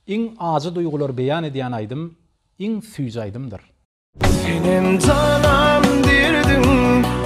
Iň ajy duýgulary beýan edýän aýdym iň süýji aýdymdyr. Senem janam derdiň.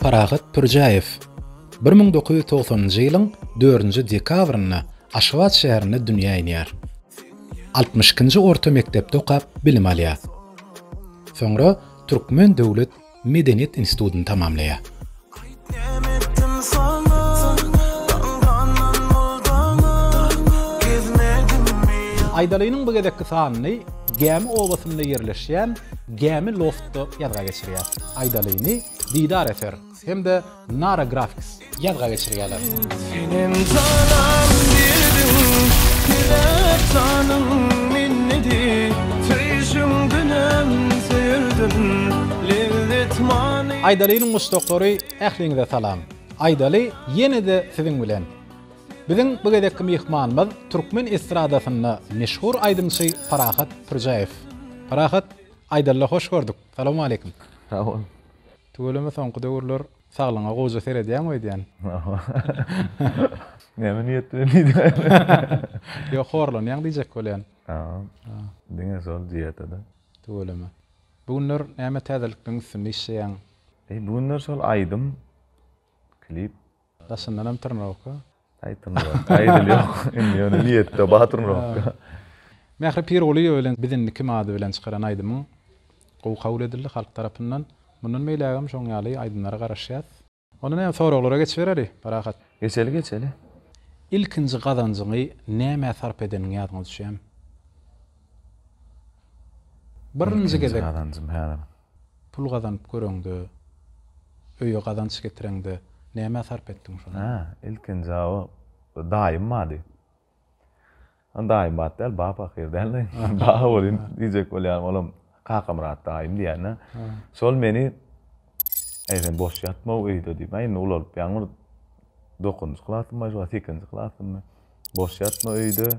Parahat Pürjäýew bir müň dokuz ýüz togsanynjy ýylyň dördünji dekabrynda Aşgabat şäherinde dünýä inýär. Altmyş ikinji orta mekdepde okap bilim alýar. Soňra Türkmen döwlet Medeniýet institutyny tamamlaýar. Aýdalynyň bu gezekki sanyny Gämi obasynda ýerleşýän Gämi loftda ýazga geçirýär. Aýdalyny Didar eser hem-de Nara Graphics ýazga geçirýärler. Senem janan berdim Diläp janym minnedi Söýşüň günem söýerdim Lezzet many Aýdalynyň muşdaklary ähliňize salam. Aýdaly ýene-de siziň bilen. Biziň bu gezekki myhmanymyz türkmen estradasynda meşhur aýdymçy Parahat Pürjäýew. Parahat, Aýdalyda hoş gördük. Salowmaleýkim. Sag bol. Tüweleme soňky döwürler saglygyňa gowja seredýäňmi öýdýän. Näme niýet bilen diýdin. Ýok horlanýaň diýjek bolýan. Haa. Diňe şol diýetada. Tüweleme. Bu günler näme täzelikleň üstünde işleýäň. Eý bu günler şol aýdym, klip. Daşyndanam tyrnawka. Taý tyrnawka. Aýdyl ýok. Indi ýöne niýetde bar tyrnawka. Mähri Pirgulyýewa bilen Biz indi kim ady bilen çykaran aýdymyň gowy kabul edildi halk tarapyndan. Mundan beýlägem şoň ýaly aýdymlara garaşýas. Onda näme soraglara geçibereli, parahat. Geçeli geçeli. Ilkinji gazanjyňy nämä sarp edeniňi ýadyňa düşýämi? Birinji gezek. Ilkinji gazanjym häzir. Pul gazanyp göreňde, öýe gazanç getireňde nämä sarp etdiň şony? Hä, ilkinji daýym bardy. Daýym bat däl, bap ahyry däl-de. Bap welin diýjek bolýarym, olam Kakamyrat daýym diýýän-ä. Şol meni, Äý, sen boş ýatma-ow öýde diýip. Indi ulalypýaň bir dokuzynjy klasymymy, sekizinji klasymymy. Boş ýatma öýde.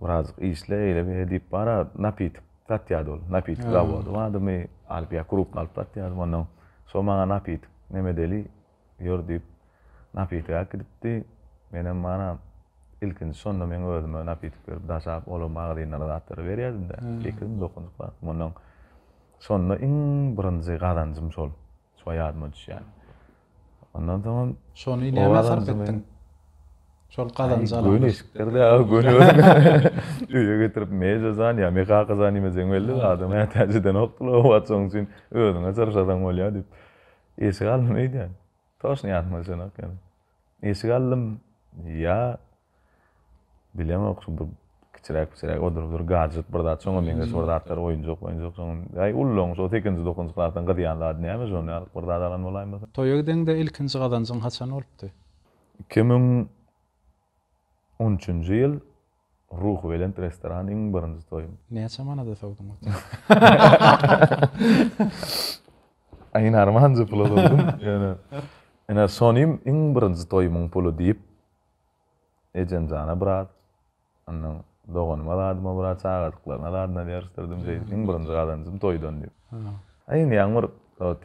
Birazjyk işle, eýle beýle diýip bar-a, napitik satýardy ol. Napitik zawody bardy, my alyp ýa krupny alyp satýardym ondan. Şol maňa napitik neme deli, ýör diýip, napitik äkidipdi. Menem bar-a, ilkinji şonda meň özüme napitik berip daşap, olar magazyndan zatlary berýärdim-de, sekizmi, dokunjyk zatmy ondan. Şonda iň birinji gazanjym şol. Şo ýadyma düşýän. Ondan soňam. Şony nämä sarp etdiň? Şol gazanjy alyň. Göni eşikdir-de, göni öýe getirip meýze zan, ýa mekaka zan iýmeseň belli, adam mätäjeden okdyr o wagt, şoň üçin özüňe çyrşasaň bolýar diýip. Eşik aldym öýdýän. Toşny ýatma düşenok ýöne. Eşik aldym, ýa Bilemok şu bir kiçiräk piçiräk odurypdyr gadjet bir zat şoňa meňzeş bir zatlar oýunjak moýunjak şoň aý ullaň şo sekizinji dokuzynjy klasdan gyz ýaly zady näme şonda ýalyk bir zat alan bolaýmasyn. Toýa gideňde ilkinji gazanjyň haçan bolupdy? Iki müň on üçünji ýyl Ruhubelent restoran iň birinji toýum. Näçe manada sowduň ot? Aý narmanjy pula sowdum ýöne ine şonym iň birinji toýumyň puly diýip Ejemjana biraz, ondan doganyma zadyma biraz, çagadyklaryna zadyna ýaryşdyrdym, şeýdip, iň birinji gazanjym toýdan diýip. A indi ýaňy bir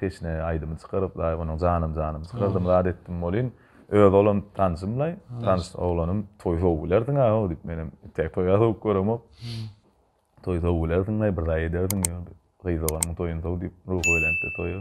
teşne aýdymy çykaryp-laý, onuň Janym janym çykardym, zat etdim welin, özi olam tanşym-laý, tans oglanym, toý sowup bilersiň-ä-ow diýip, menem tä toý-a sowup göremok. Toý sowup bilersiň-laý, bir zaý edersiň, ýör, gyz doganymyň toýuny sow diýip, ruhubelentde toýa.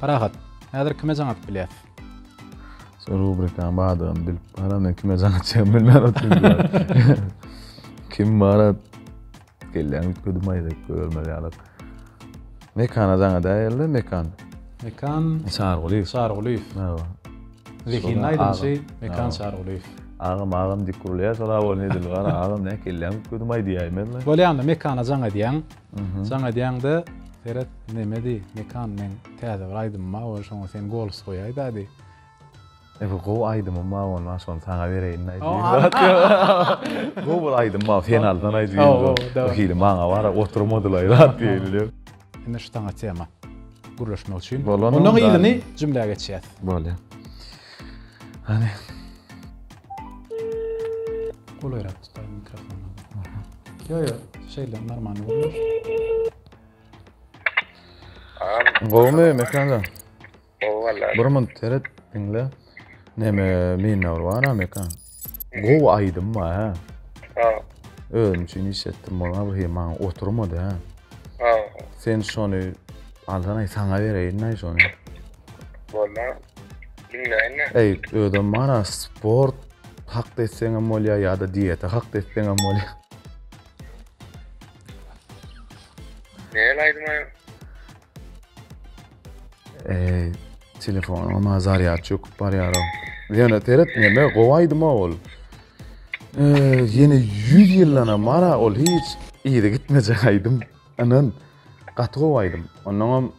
Parahat, häzir kime jaň atyp bilýäs? Sen rubrikaň bardygyny bilip baram, men kime jaň atýan bilmän otyryn. Kim bara gelýän üýtgedim aýdaýyp görmez ýaly. Mekana jaň edäýeli, Mekan. Mekan Çargulyýew. Çargulyýew. Hawa. Zehinli aýdymçy Mekan Çargulyýew. Agam, agam diýip gürleýär, soraw bolýar, ne dili bar, agam näk gelýäň üýtgedim aýdaýmyzmy? Bolýanda Mekana jaň edýäň. Jaň edýäňde seret nemedi Mekan meň täze bir aýdymym bar ol şoňa sen gols goýaý dady. E bu gowy aýdymym bar ondan şony saňa bereýin dady. Gowy bir aýdym bar sen aldan aýt diýdi. Hili maňa bar oturmadylaý zat diýdi. Indi şu saňa tema gürleşmek üçin. Ondan yzyny jümlä geçýäs. Bolýar. Hany. Golaýrak. Stay mikrofonu. Yo yo, şeyle normal olur. Gowmy mekanda? Gowy valla. Bir mun teret dinle. Neme minna ur bar mekan. Gow aýdym bar ha. Ha. Özüm üçin iş etdim bolma bu hem maňa oturmady ha. Ha. Sen şony aldan ay sana bereýin ay şony. Bolma. Dinleýin. Ey, özüm bana sport Hakda etseňem bolýar ýa-da diýete hakda etseňem bolýar. Näle aýdmaýa? Eee, telefonuň ma zarýad çöküp barýar. Ýöne teret näme gowy aýdyma ol. Eee, ýene 100 ýyldan hem mara ol hiç ýere gitmejek aýdym. Anan gaty gowy aýdym. Ondan hem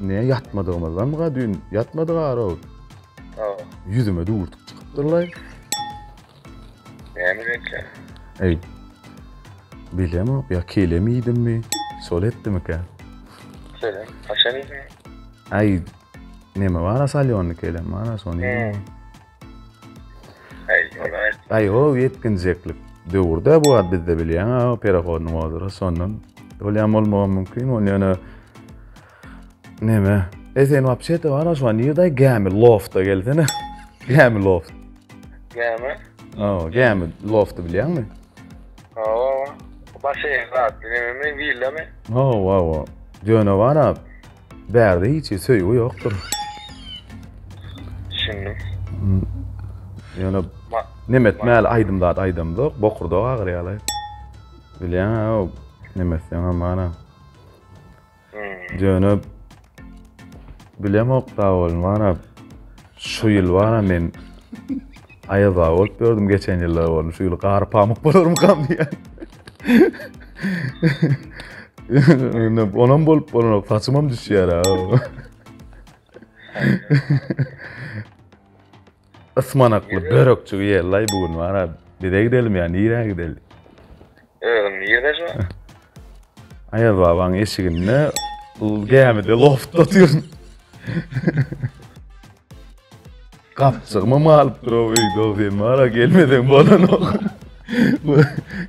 Ne ýatmadygymyzdanmyka düýn? Ýatmadyk arow. Hawa. Ýüzüme düwürtik çykypdyrlaý. Näme reňkli? Eý. Bilemok, ýa kelem iýdimmi? Şol etdimikä? Kelem, haçan iýdiň? Aý, neme bar-a salýonly kelem bar-a, şony iýdim. Aýow ýetginjeklik döwürde bu ad bizde bilýän aw perehodynyň ozura sondan bolýan bolmagy mümkin. Ol ýöne neme? Esen wapşete bar şu an ýerde gämi lofta gelsene. Gämi loft. Gämi? Aw, gämi lofty bilýäňmi? Aw, başy ýerde neme? Villamy? Aw, aw, aw. Ýöne bar ab. Bärde hiç söýgi ýokdur. Düşündim. Ýöne nemetmäli aýdym zat aýdamzok, bokurdagy agyrýaly. Bilýän-ä, nemesden amana. Ýöne bilemok da bolmana. Şu ýyl bara men Aýaz aga bolup gördüm geçen ýyllar boldy. Şu ýyl gar pamyk bolarmykam diýýän. Ýöne onam bolup bolanok. Saçymam düşýär ha. Ismanakly börekçi ýellaý bu gün wara. Bize gidelim ýa nirä gidelim? Özüm ýerleşme. Aýaz babaň eşiginde ul gämide loft oturyn. Gapçygma malyp dur o öýde o sen mara gelmeden bolan ok.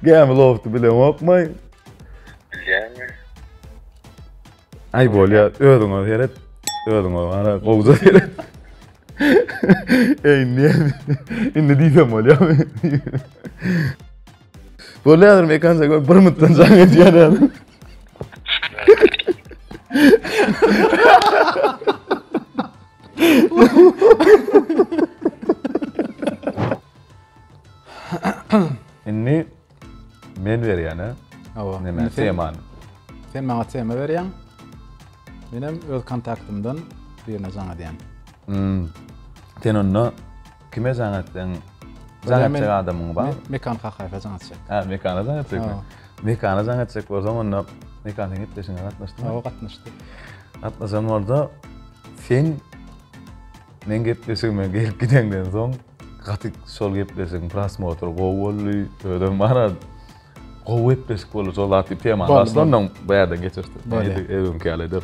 Gämi lofty bilen okmay. Bilýärmi? Aý bolýa özüňe seret. Özüňe mara gowja seret. Ey ne? Indi diýsem bolýarmy? Bu ne adam ekan sen bir mutdan can ediyor ne adam. Inni men berýän ha. Hawa. Näme temany? Sen maňa tema berýäň. Men hem öz kontaktymdan birine jaň edýän. Hmm. Sen onda Kime jaň etseň, jaň etjek adamyň bar. Mekan Kakaýewe jaň etjek. Hä, Mekana jaň etjekmi? Mekana jaň etjek bolsaň, onda Mekan sen gepleşigiňe gatnaşdyňmy? Hawa, gatnaşdy. Gatnaşan bolsa, sen men gepleşigime gelip gideňden soň gaty şol gepleşigiň prosmotry gowy boldy, özem bana gowy gepleşik boldy, şol zat diýip temany başlandan bu ýerden geçirdi. Edi, öňki ýaly eder.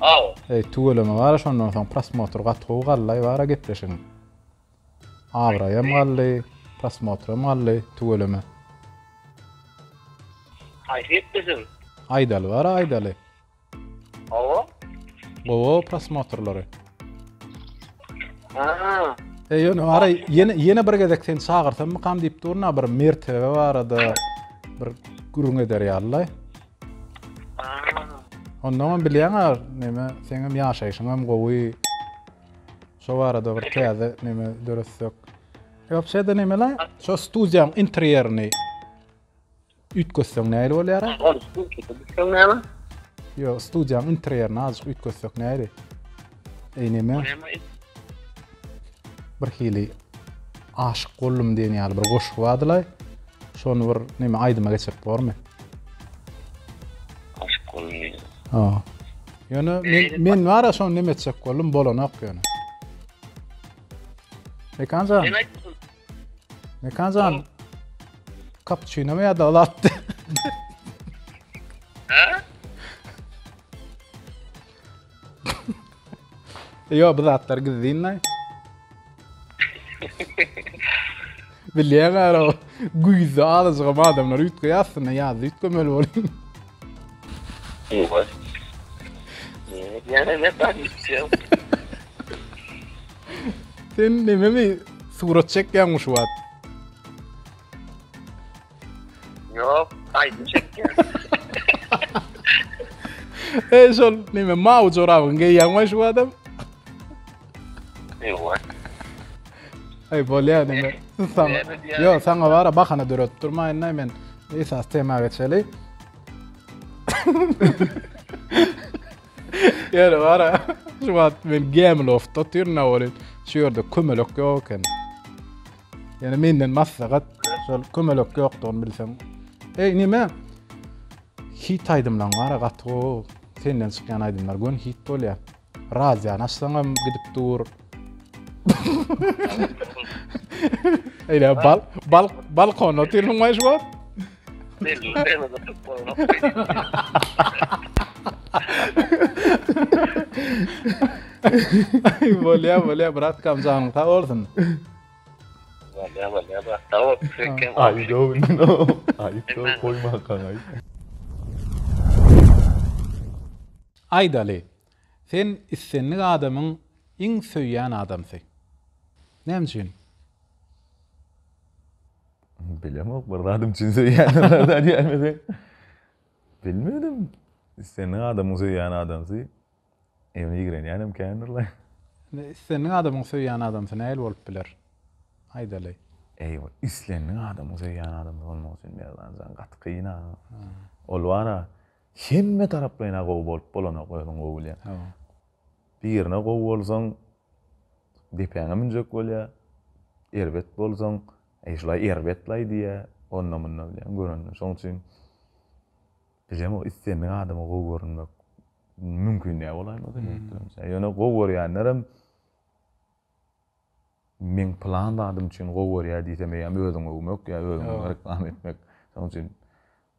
Aw. Eý tüweleme gara şondan soň prosmotr gaty gowy gallaý bara gepleşigiň. Abraýam galdy, prosmotram galdy tüweleme. Haýsy gepleşigiň? Aýdaly bara aýdaly. Awa. Gowa prosmotrlary. Aha. Eý ýöne gara ýene ýene bir gezek seni çagyrsammykam diýip durun-a bir mertebe barada bir gürrüň eder ýalylaý. Ondan hem bilýän ar, näme, sen hem ýaşaýşyň hem gowy. Şo barada bir täze näme döretsek. Ýok, şeýde näme la? Şo studiýaň interýerini üýtgetseň näli bolýar? Ýok, studiýaň interýerini azajyk üýtgetsek näli? Eýneme bir hili aşyk boldum diýen ýaly bir goşgy bardylaý. Şony bir näme aýdyma geçirip bormy? Aşyk boldum diýen. Ha. Ýöne men men bara şony näme etjek boldum, bolanok ýöne. Mekanja. Mekanja. Kapçyna mı ya da latdı? Ha? Ýo, bu zatlar gizlinlaý. Bilýän gara, güýzde azajygam adamlar üýtgeýär aslynda, ýazda üýtgemeli bolýar. Owaý. Ýene ne taýýa? Sen nememi surat çekýäňmi şu wagt? Yok, aydın çekti. e şol neme mawy jorabyň geýýäňmi şu adam? Ýok. Ay bolýar neme? Sana. Yo, sana bara bahana döretip durmaýyn da men. Esas tema geçeli. Ýöne bara şu wagt men Gemlofda otyryn awalin. Şu ýerde kömelek ýok eken. Ýöne menden maslahat, şol kömelek ýokdugyny bilseň. Eý, näme? Hit aýdymlaň bara gaty gowy. Senden çykýan aýdymlar göni hit bolýar. Radiony açsaňam gidip dur. Eýle bal bal balkonda otyrylyň waýş wagt. Bolýar, bolýar, brat, kam janyň sag bolsun. Bolýar, bolýar, brat, sag bol. Aý, ýok, indi, aý, ýok, goýma, garaý. Aýdaly, sen islendik adamyň iň söýýän adamsy. Näme üçin? Bilemok, bir zadym üçin söýýänler zat ýermese. Bilmedim. Islendik adamyň söýýän adamsy evine ýigrenýänem kändir la. Islendik adamyň söýýän adamsy nähili bolup biler? Aýdaly. Eý, ol islendik adamyň söýýän adamsy bolmak üçin Merdan jan gaty kyn-a. Ol bar-a, hemme taraplaýyn-a gowy bolup bolanok, özüň gowy bilýäň. Birine gowy bolsaň, depäňe münjek bolýar. Erbet bolsaň, Eý, şulaý erbet-laý diýýä, onda-munda bilýän görende. Şoň üçin bizem o islendik adama gowy görünmek mümkin-ä bolaýmasa meňzeş. Ýöne gowy görýänlerem men pylan zadym üçin gowy görýär diýsem eýýäm özüňi öwmek ýa özüňi reklama etmek. Şoň üçin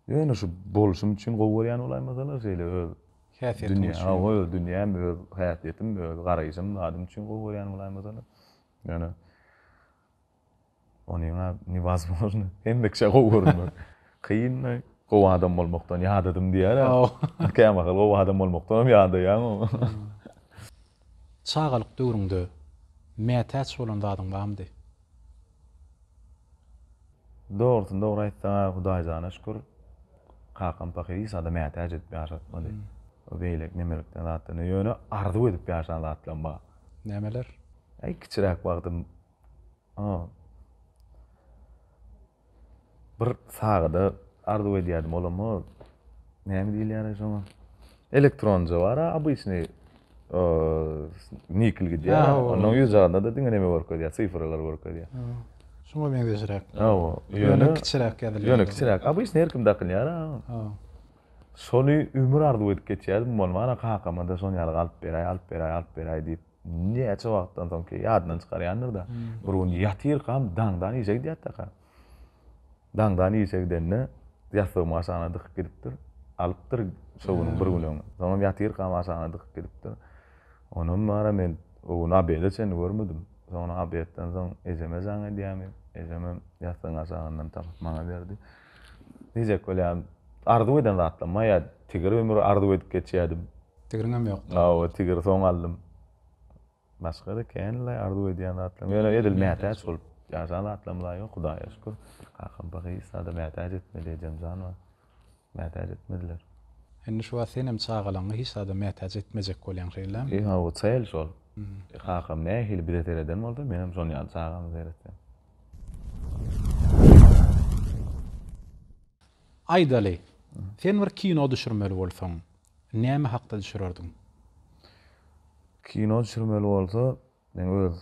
ýöne şu bolşum üçin gowy görýän bolaýmasalar şeýle öz häsiýetim üçin. Hawa, öz dünýäm, öz häsiýetim, öz garaýşym, zadym üçin gowy görýän bolaýmasalar. Ýöne Onyňa newazmozno hemme kişä gowy görünmek. Kynda gowy adam bolmakdan ýadadym diýýär-ä. Kämahal gowy adam bolmakdanam ýadaýaň. Çagalyk döwrüňde mätäç bolan zadyň barmydy? Dogrusyny dogry aýtsaň-a, Hudaýjana şükür, kakam pahyr hiç zada mätäç edip ýaşatmady. Bu beýleki nemelikden zatdan, ýöne arzuw edip ýaşan zatlam bar. Nämeler? Äý, kiçiräk wagtym Bir sagada arzuw edýärdim, olam o näme diýilýär şoňa? Elektronja bar-a, obyçnyý nikl gidýär. Onuň ýüz jagynda-da diňe näme görkezýär, sifralary görkezýär. Şoňa meňzeşräk. Hawa, ýöne kiçiräk ýazylýar. Ýöne kiçiräk. Obyçnyý her kim dakylýar-a. Şony ömür arzuw edip geçýärdim, bolmana kakama-da şony ýaly alyp beräý, alyp beräý, alyp beräý diýip. Näçe wagtdan soň ki, ýadyndan çykarýandyr-da, bir gün ýatyrkam daňdan işe gidýärdi-de. Daňdan işe gidende, ýassygymy aşagyna dykyp gidipdir. Alypdyr şo günüň bir güni öň. Soňam ýatyrkam aşagyna dykyp gidipdir. Onam bar-a men o gün obeda çenli görmedim. Soňra obedden soň ejeme jaň edýämi, ejemem ýassygyň aşagyndan tapyp maňa berdi. Diýjek bolýan, arzuw eden zatlaryma ýa tigir ömür arzuw edip geçýärdim. Tigriňem ýokdy. Hawa, tigiri soň aldym. Başga-da känleý arzuw edýän zatlarym, ýöne edil mätäç bolup ýaşan zatlarym-la ýok, Hudaýa şükür. Kakam Bagyýysa-da mätäç etmedi, ejemjan bar. Mätäç etmediler. Indi şu wagt senem çagalaňy hiç zada mätäç etmejek bolýaň, şeýlemi? E, hawa, çäýeli şol. Kakam nähili bize sereden bolsa, menem şonuň ýaly çagama seretýän. Aýdaly, sen bir kino düşürmeli bolsaň, Näme hakda düşürerdiň? Kino düşürmeli bolsa, meň öz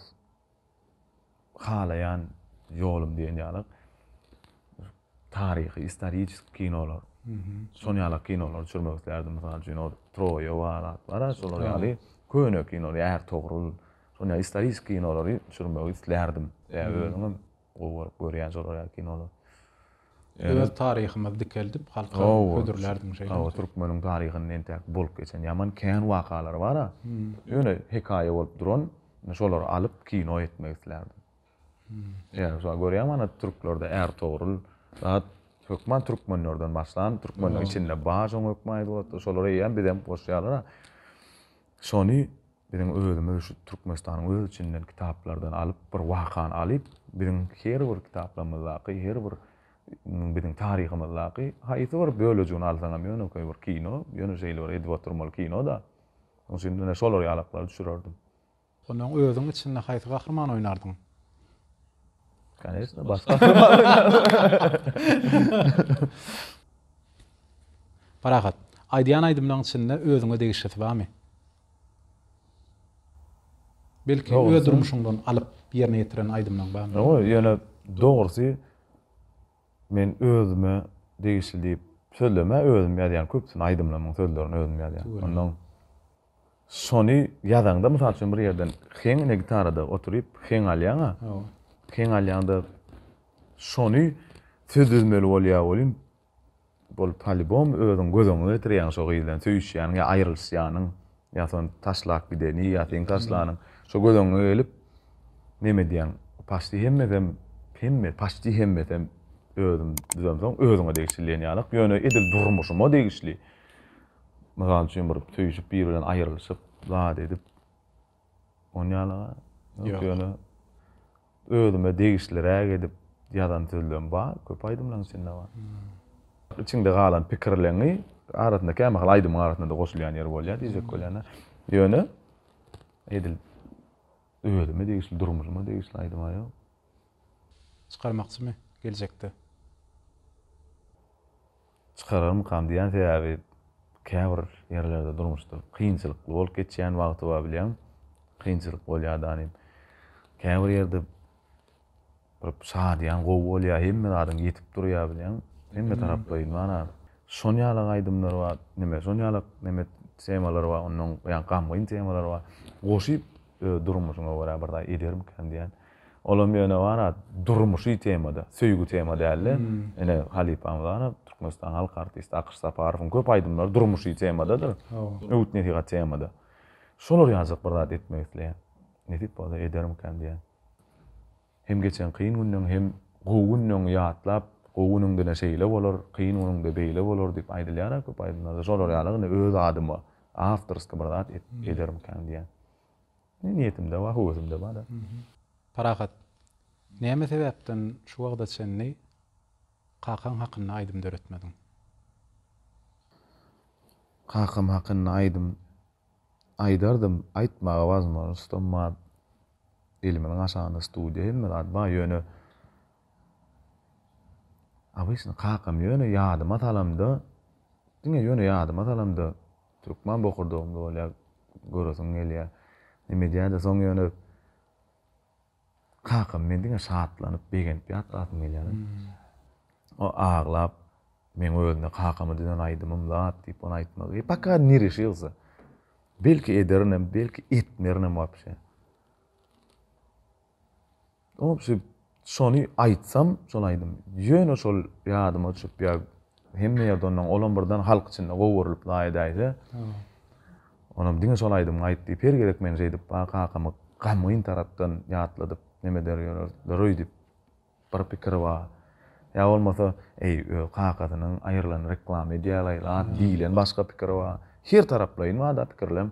halaýan ýolum diýen ýaly taryhy, istoriçeski kinolar. Şol ýaly kinolary düşürmek isleýärdim. Mysal üçin, ol Troýa bar, zat bar-a, şolar ýaly köne kino, Ärtogrul, şol ýaly istoriçeski kinolary düşürmegi isleýärdim. Özüňem Gowy görüp görýän şolar ýaly kinolar. Öz taryhymyzy dikeldip halka hödürlärdiň şeýdimi? Hawa türkmeniň taryhynda entäk bolup geçen ýaman kän wakalar bara. Ýöne hekaýa bolup duran şolary alyp kino etmek islärdim. Ýa şolar görýäňmi ana türklerde är Togrul zat hökman türkmenlerden başlan türkmeniň içinde bar şoň hökman aýdyp otyr şolar eýýäm bizem goşýarlar. Şony Biziň özümiz şu Türkmenistanyň öz içinden kitaplardan alyp, bir wakany alyp, biziň her bir kitaplarymyzdaky, her bir biziň taryhymyzdaky haýsy bir bölejigini alsaňam ýönekeý bir kino, ýöne şeýle bir edip oturmaly kino-da. Şonuň üçin ine şolar ýalaklary düşürerdim. Onda özüň içinde haýsy gahrymany oýnardyň? Koneçna, baş gahrymany oýnardyň. Parahat, aýdýan aýdymlaryň içinde özüňe degişlisi barmy? Belki öz durmuşyňdan alyp ýerine ýetiren aýdymlaň barmy? Ýok, ýöne dogrusy men özüme degişli diýip sözlemä özüm ýazýan köpüsini aýdymlarymyň sözlerini özüm ýazýan. Ondan şony ýazaňda mysal üçin bir ýerden heň ine gitarada oturyp heň alýaňa. Heň alýaňda şony söz düzmeli bolýa welin Bol polibom özüň göz öňüňe getirýäň şo gyz bilen söýüşýäniň ýa aýrylyşýanyň ýa son taşlap gideni ýa seň taşlanyň şo göz öňüňe gelip neme edýäň paşti hemmesem hemme paşti hemmesem özüm düzemsoň özüňe degişli diýen ýalak ýöne edil durmuşyma degişli mysal üçin bir söýüşip biri bilen aýrylyşyp zat edip Ony ýalyga ýok ýöne özüme degişliräk edip ýazan sözlerim bar, köp aýdymlaryň içinde bar. Içiňde galan pikirleňi arasynda kämahal aýdymyň arasynda-da goşulýan ýeri bolýar diýjek bolýan-a. Ýöne edil özüme degişli, durmuşyma degişli aýdym-a ýok. Çykarmakçymy geljekde? Çykararmykam diýýän sebäbi käbir ýerlerde durmuşda kynçylykly bolup geçýän wagty bar bilýäň kynçylyk bolýa da nim käbir ýerde bir şadyýan gowy bolýa hemme zadyň ýetip durýa bilýäň hemme taraplaýyn mana şon ýalak aýdymlar bar neme şon ýalak neme temalar bar ondan ýa gamgyn temalar bar goşyp öz durmuşyňa görä bir zat edermikän diýýän. Olam ýöne wara durmuşy temada, söýgi tema däldi. Ine halypamyz wara Türkmenistanyň halk artisti Akyş Saparowyň köp aýdymlary durmuşy temadadyr. Öwüt-nesihat temada. Şolar ýalyjak bir zat etmek isleýän. Nesip bolsa edermikäm diýýän. Hem geçen kyn günleň hem gowy günleň ýatlap, gowy günüňde-de şeýle bolar, kyn günüňde beýle bolar diýip aýdylýar-a köp aýdymlarda. Şolar ýaly indi öz adyma awtorski bir zat edermikäm diýýän. Ne niýetimde bar, höwesimde bar-a. Parahat, näme sebäpden şu wagta çenli kakaň hakynda aýdym döretmediň? Kakam hakynda aýdym aýdardym, aýtmaga wazmožnostom bar, elimiň gaşagynda studiýa hemme zat bar, ýöne obysny kakam ýöne ýadyma salamda, diňe ýöne ýadyma salamda Türkmen bokurdagymda bolýar göresim gelýär. Neme edýändä soň ýöne kakam men diňe şatlanyp begenip ýatlasym gelýär. O aglap men özüne kakama düzen aýdymym zat diýip ony aýtmagy paka ne reşilsa. Belki ederinem belki etmerinem wapşe. Ol şüp şony aýtsam şol aýdym ýöne şol ýadyma çüp ýa hemme ýerde ondan olam birden halk içinde gowurylyp la edäýse onam diňe şol aýdym aýt diýip her gezek meni şeýdip ba kakamy gamgyn tarapdan ýatladyp neme der ýörerler öýdüp bir pikir ba ýa bolmasa eý öz kakasynyň aýrylan reklama edýälaý la diýlen başga pikir ba her taraplaýyn bada pikirlem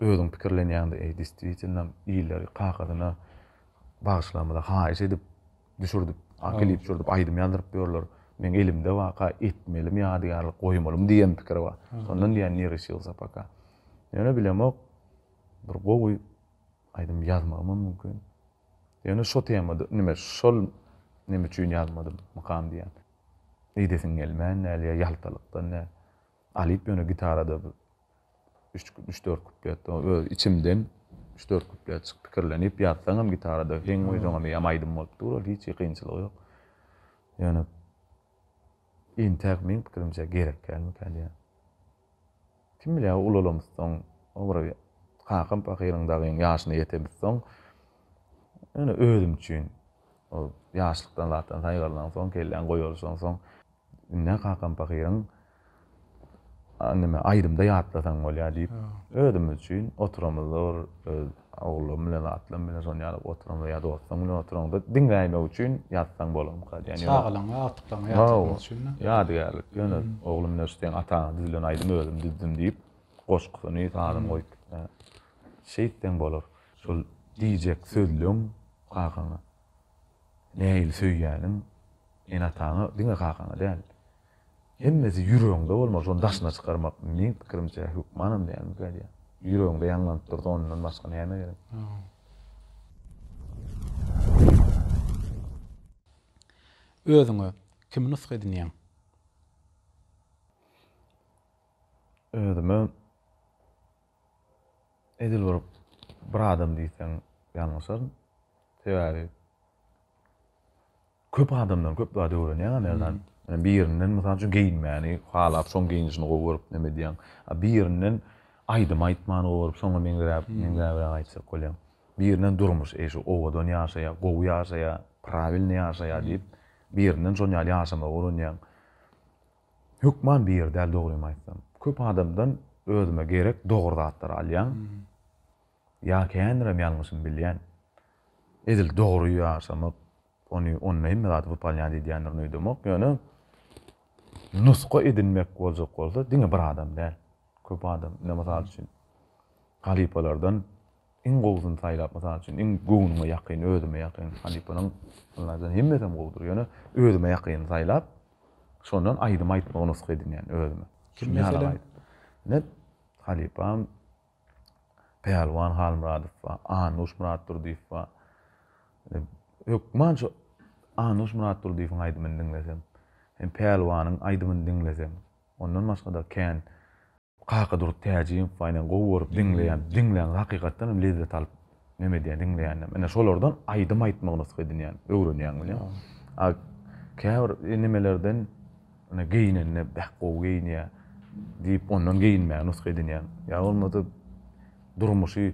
Özüň pikirlenýäňdä eý desdwitilnam illeri kakasyna bagyşlamada haýyş edip düşürdip a klip düşürdip aýdym ýazdyryp ýörler meň elimde waka etmelimi ýadygärlik goýmalymy diýen pikir bar şondan diýýän ne reşilsa poka ýöne bilemok bir gowy aýdym ýazmagymam mümkin ýöne şo temada nime şol nime üçin ýazmadym mykam diýýän eýdesiň gelmän däl ýa ýaltalykdan däl. Alyp ýöne gitarada bir üç üç dört kuplet o öz içimden üç dört kuplet çyk pikirlenip ýazsaňam gitarada heň goýsaňam ýam aýdym bolup dur ol hiç kynçylygy ýok. Ýöne intäk meň pikirimçe gerek dälmikä diýýän. Kim bilýär ulalamyzsoň o bir kakam pahyryň dagyň ýaşyna ýetemizsoň ýöne özüm üçin ol ýaşlykdan zatdan saýgarlansoň kelläň goýalşansoň Indi-hä kakam pahyryň neme, aýdymda ýatlasaň bolýar diýip, özümiz üçin oturamyzda bir öz oglan bilen, atlan bilen şony ýaly oturamyzda ýa dostlaň bilen oturamyzda diňläýmek üçin ýatsaň bolarmyka diýen. Çagalaňa, agtyklaňa ýatlatmak üçin-dä. Ýadygärlik. Ýöne oglum bilen şeýdip, ataňa düzülen aýdymy özüm düzdüm diýip, goşgusyny, sazyny goýup şeýtseň bolar. Şol diýjek sözleň kakaňa. Nähili söýýäniň ene-ataňy diňe kakaňy däl. Hemmesi ýüregiňde bolmaly, şony daşyna çykarmak, meň pikirimçe, hökmanam dälmikä diýýän. Ýüregiňde ýaňlanyp dursa, ondan başga näme gerek? Özüňe kimi nusga edinýäň? Özüme. Edil bir bir adam diýseň ýalňyşaryn. Sebäbi köp adamdan köp zat öwrenýäň-ä Merdan. Yani birinden mysal üçin geýinmäni halap, şoň geýnişini gowy görüp neme edýäň. A birinden aýdym aýtmany gowy görüp, şoňa meňzeräp, meňzäbräk aýtjak bolýaň. Birinden durmuş, eý şu owadan ýaşaýar, gowy ýaşaýar, prawilnyý ýaşaýar diýip, birinden şonuň ýaly ýaşamagy öwrenýäň. Hökman bir ýer däl dogrymy aýtsam. Köp adamdan özüme gerek dogry zatlary alýan. Ýa känirem ýalňyşym bilýän. Edil dogry ýaşamak ony onda hemme zady wypalňa diýdýändirin öýdemok. Ýöne nusga edinmek boljak bolsa diňe bir adam däl. Köp adam ine mysal üçin halypalardan Iň gowusyny saýlap, mysal üçin, iň göwnüňe ýakyn, özüme ýakyn, halypanyň ylaýtadan hemmesem gowudyr, ýöne özüme ýakyny saýlap, şondan aýdym aýtmagy nusga edinýän özüme. Kim meselem? Ine, halypam Pälwan Halmyradow bar, Anuş Myratdurdyýew bar. Ine, hökman şu Anuş Myratdurdyýewiň aýdymyny diňlesem, hem Pälwanyň aýdymyny diňlesem, ondan başga-da kän Kakadurdy Täjimow baýdan gowy görüp diňleýän diňlän hakykatdan hem lezzet alyp neme edýän diňleýändem ine şolardan aýdym aýtmagy nusga edinýän öwrenýän bilem a käbir nemelerden ine geýnende beh gowy geýinýär diýip ondan geýinmäge nusga edinýän ýa bolmasa durmuşy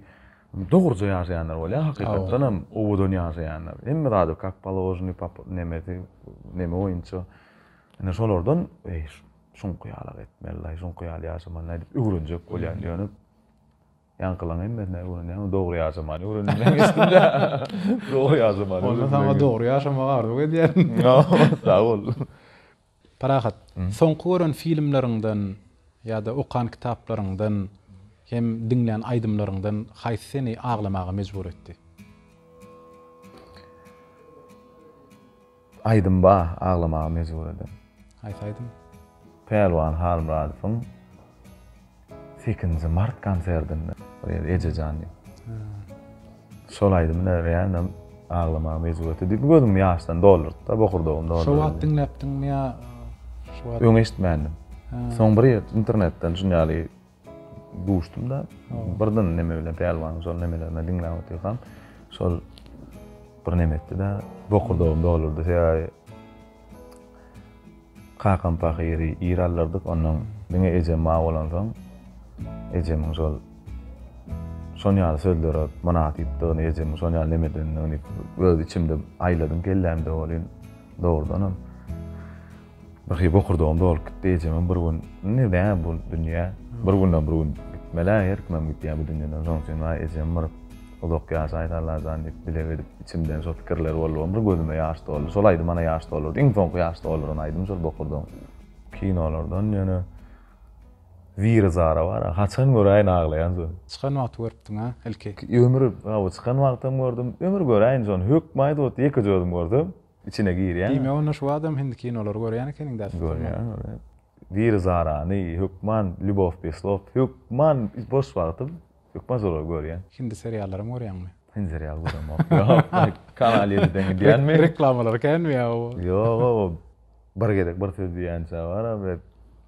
dogruja ýaşaýanlar bolýar hakykatdan hem owadan ýaşaýanlar hemme zady kak položnyý nemesi neme boýunça ine şolardan eý Soňky ýaly-ak etmeli-laý, soňky ýaly ýaşamaly-laý diýip öwrenjek bolýan ýöne ýaňkylaň hemmesini öwrenýän, dogry ýaşamany öwrenmän geçdim-de. Dogry ýaşamany öwrenmän. Onda saňa dogry ýaşamagy arzuw edýärin. Sag bol. Parahat, soňky gören filmleriňden ýa-da okan kitaplaryňdan hem diňlän aýdymlaryňdan haýsy seni aglamaga mejbur etdi? Aýdym ba, aglamaga mejbur eden. Haýsy aýdym? Pälwan Halmyradowyň sekizinji mart konsertinde bir ýerde Ejejan diýip. Şol aýdymy ne realno aglamaga mejbur etdi. Diýip gözümi ýaşdan doldurdy da, bokurdagym doldy. Şo wagt diňläpdiňmi ýa şu wagt? Öň eşitmändim. Soň bir ýer internetden şuny ýaly Duşdum-da, birden neme bilen, pälwanyň şol nemelerini diňläp otyrkam, şol bir neme etdi-de, bokurdagym dolurdy. Sebäbi kakam pahyry ir aldyrdyk, onnoň diňe ejem bar bolansoň, ejemiň şol şon ýaly sözlere mynasypdygyny, ejemiň şon ýaly neme edendigini öz içimde aýladym, kellämde welin, dogrudanam. Birhili bokurdagym dolup gitdi. Ejemem bir gün, Indi nä bu dünýä? Bir günden bir gün gitmeli-ä, her kimem gidýär bu dünýeden. Şonuň üçin waý ejem bir uzak ýaşaýsy Allajan diýip dileg edip, içimden şo pikirler boldy. Bir gözüme ýaş doldy. Şol aýdym ana ýaş doldurdy. Iň soňky ýaş dolduran aýdym şol bokurdagyň. Kinolardan ýöne Ziri Zara bar-a, haçan göräýin aglaýan şony. Çykan wagty görüpdiň-ä ilki? Ömür, hawa çykan wagtam gördüm. Ömür göräýin şony, hökman-a ýekeje özüm gördüm. Içine girýäňmi? Diýmek onda şu badam hindi kinolary görýän ekeniň däl sypyrman. Görýän görýän. Biri zarany, hökman Lýubow bez slov, hökman boş wagtym hökman şolary görýän. Hindi seriallaram görýäňmi? Hindi serial göremok. Ýok, Kanal ýediden gidýänmi? Reklamalary känmi ýa-o? Ýog-o, bir gezek bir söz diýýänçä bar-a, bir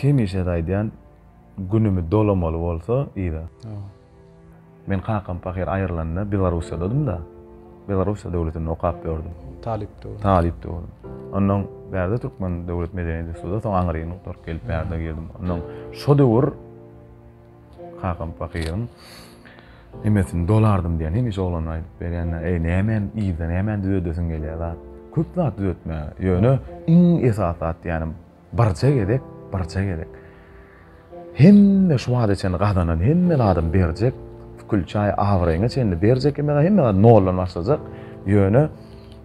Hemişe aýdýan günümi dolamaly bolsa yza. Men kakam pahyr aýrylanda Belarussiýadadym-da. Belarussiýa döwletinde okap ýördüm. Talypdy. Talypdy ol. Ondan bärde Türkmen döwlet medeniýet institutyna soň Aňrynyň gelip bärde girdim. Ondan şo döwür Kakam pahyryň Nemesini dolardym diýen hemişe oglan aýdyp berýän. Eý nämäni yzda nämäni düzedesin gelýär zat. Köp zat düzetmäge. Ýöne iň esasy zat diýýänim birje gezek, birje gezek. Hemme şu wagta çenli gazanan hemme zadyny berjek. Külçäý abraýyňa çenli berjek hemme zat, hemme zat noldan başlajak. Ýöne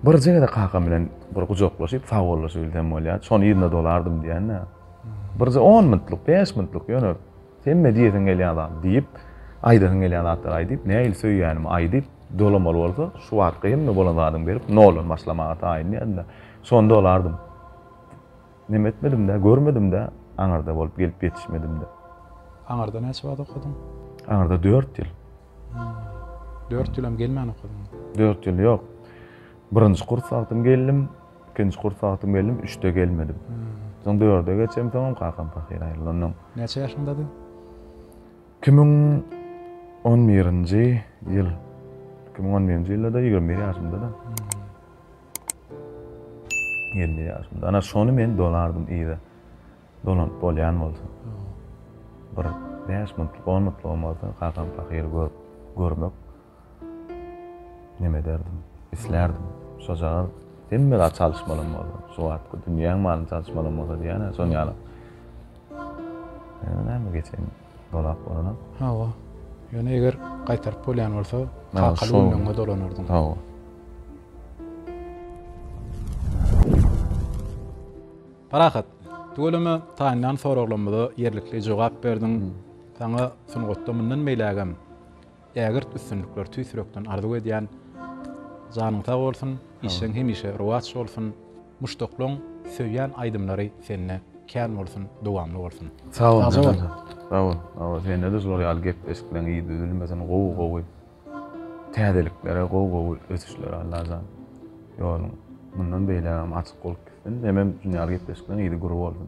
birje gezek kakam bilen bir gujaklaşyp sagbollaşyp bilsem bolýar. Şony yzda dolardym diýýän. Birje 10 minutlyk, 5 minutlyk ýöne Hemme diýesiň gelýän zat diýip, aýdasyň gelýän zatlary aýdyp, nähili söýýänimi aýdyp, dolamaly bolsa, şu wagtky hemme bolan zadymy berip, noldan başlamaga taýynlýardym-da, şonda bolardym. Neme etmedim-dä, görmedim-dä, aňyrda bolup gelip ýetişmedim-dä. Aňyrda näçe wagt okadyň? Aňyrda dört ýyl. Dört ýyl hem gelmän okadyňmy? Dört ýyl ýok. Birinji kurs wagtym geldim, Ikinji kurs wagty geldim, üçde gelmedim. Soň dörde geçemsoňam kakam pahyr aýrylandan öň. Näçe ýaşyňdady? Iki müň on birinji ýyl. Iki müň on birinji ýylda-da ýigrimi bir ýaşymda-da. Ýigrimi bir ýaşymda. Ana şony men dolardym yza. Dolanyp bolýan bolsa. Bir bäş minutlyk, on minutlygam bolsa kakam pahyry görüp, görmek. Näme ederdim? Islärdim. Şojagaz hemme zat çalyşmalam bolsa, şu wagtky dünýäň malyny çalyşmalam bolsa diýýän-ä, şonuň ýaly. Ýöne näme geçen dolap bolanok. Hawa. Ýöne eger gaýtaryp bolýan bolsa, kakaly günleriňe dolanardyň. Hawa. Parahat, tüweleme taýynlan soraglarymyza ýerlikli jogap berdiň. Saňa sungatda mundan beýlägem Ägirt üstünlikler tüýs ýürekden arzuw edýän. Janyň sag bolsun, işleň hemişe rowaç bolsun. Muşdaklaň söýýän aýdymlary sende kän bolsun, dowamly bolsun. Sag bol Sagja bol. Sag bol. Sag bol. Sendede şular ýaly gep eşikleň yz üzülmesin gowy gowy täzeliklere gowy gowy ösüşlere Allajan ýoluň mundan beýlägem açyk bolup gitsin. Hemem şunýaly gepleşikleň yzy gür bolsun.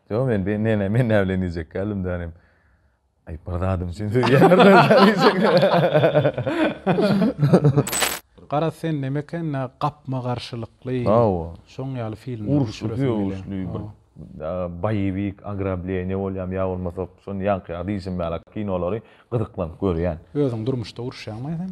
Ýok, men bi, ne, ne, men nä bilen iýjek geldim, dänim. Aý, bir zadym üçin siz Garaz, sen neme eken, nä gapma-garşylykly, Hawa. şoň ýaly filmler Uruş, düşüresim gelýär. uruşly bir, Hawa. a, boýewik, ogrableniýe bolýarmy ýa bolmasa, şony ýaňky ýaly diýşim ýaly, kinolary gyzyklanyp görýän. Özüň durmuşda uruşýaňmy sen?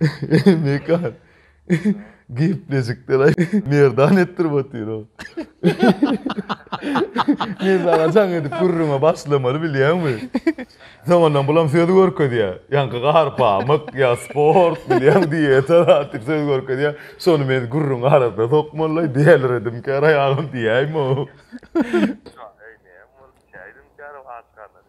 Eý Mekan. Geplejikler-aý. Merdan etdirip otyr-ow. Men saňa jaň edip gürrüňe başlamaly bilýäňmi? Soňundan bulam söz görkezýär. Ýaňky gar pamyk, ýa sport, bilýäň, dieta zat diýip söz görkezýär. Şony men gürrüň arasyna sokmaly-laý, dälredimkär aýagym diýäýmow. Eý näme boldy, çäý edimkär-ow aç garna.